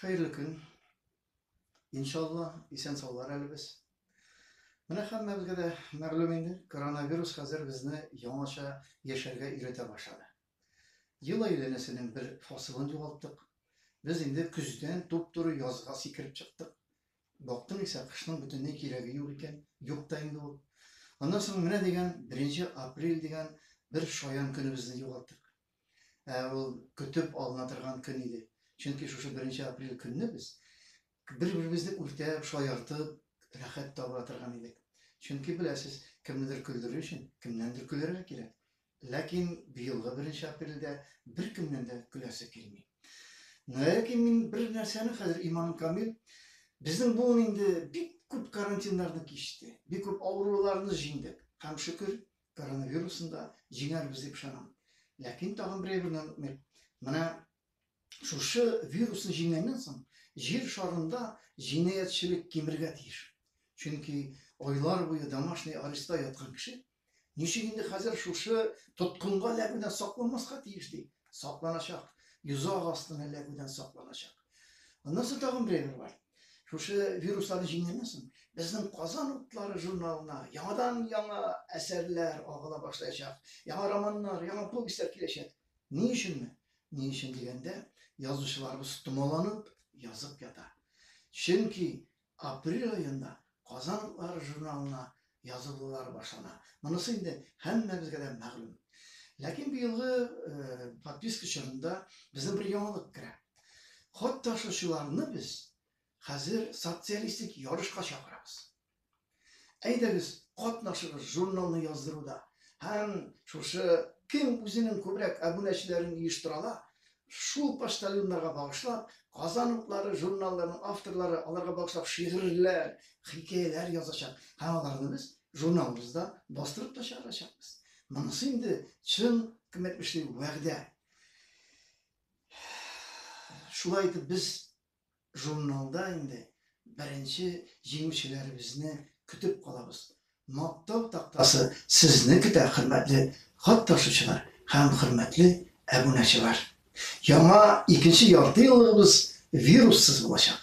Хәерле көн. Иншалла, исән саулар әле без. Менә һәммәбезгә дә мәгълүм инде, коронавирус хәзер безне яңача яшәргә өйрәтә башлады. Ел әйләнәсенең бер фасылын югалттык. Без инде көздән туп-туры язга сикереп чыктык. Бактың исә, кышның бөтенләй кирәге юк икән, юк та инде ул. Аннан соң менә дигән 1 апрель дигән бер шаян көнебезне югалттык. Ә ул көтеп алына торган көн иде. Чөнки шушы беренче апрель көнне без бер-беребезне үртәп, шаяртып, рәхәт таба торган идек. Чөнки беләсез, кемнедер көлдерү өчен кемнәндер көләргә кирәк. Ләкин быелгы беренче апрельдә беркемнән дә көләсе килми. Ләкин мин бер нәрсәне хәзер иманым камил. Безнең буын инде бик күп карантиннарны кичте, бик күп авыруларны җиңдек. Һәм шөкер, коронавирусын да җиңәрбез дип ышанам. Ләкин тагын бер әйберне онытмыйк. Менә шушы вирусны җиңгәннән соң җир шарында җинаятьчелек кимергә тиеш. Чөнки айлар буе домашний ареста яткан кеше ничек инде хәзер шушы тоткынга эләгүдән сакланмаска тиеш ди. Сакланачак. Йозак астына эләгүдән сакланачак. Аннан соң тагын бер әйбер бар. Шушы вирусларны җиңгәннән безнең Казан утлары журналына яңадан яңа әсәрләр агыла башлаячак. Яңа романнар, яңа повестьлар киләчәк. Ни өченме? Ни өчен дигәндә, язучыларыбыз томаланып язып ята. Чөнки апрель аенда Казан лар журналына язылулар башлана. Монысы инде һәммәбезгә дә мәгълүм. Ләкин быелгы подписка чорында безнең бер яңалык керә. Хат ташучыларны без хәзер социалистик ярышка чакырабыз. Әйдәгез, катнашыгыз журналны яздыруда һәм шушы кем үзенең күбрәк әбүнәчеләрен оештырала, Шул ук почтальоннарга багышлап, Казан утлары журналларының авторлары аларга багышлап шигырьләр, хикәяләр язачак һәм аларны без журналыбызда бастырып та чыгарачакбыз. Монысы инде чын кем әйтмешли вәгъдә. Шулай итеп без Журналда инде беренче җиңүчеләребезне көтеп калабыз. Мактау тактасы сезне көтә, хөрмәтле хат ташучылар һәм хөрмәтле әбунәчылар! Яңа икенче яртыеллыгыбыз вируссыз булачак!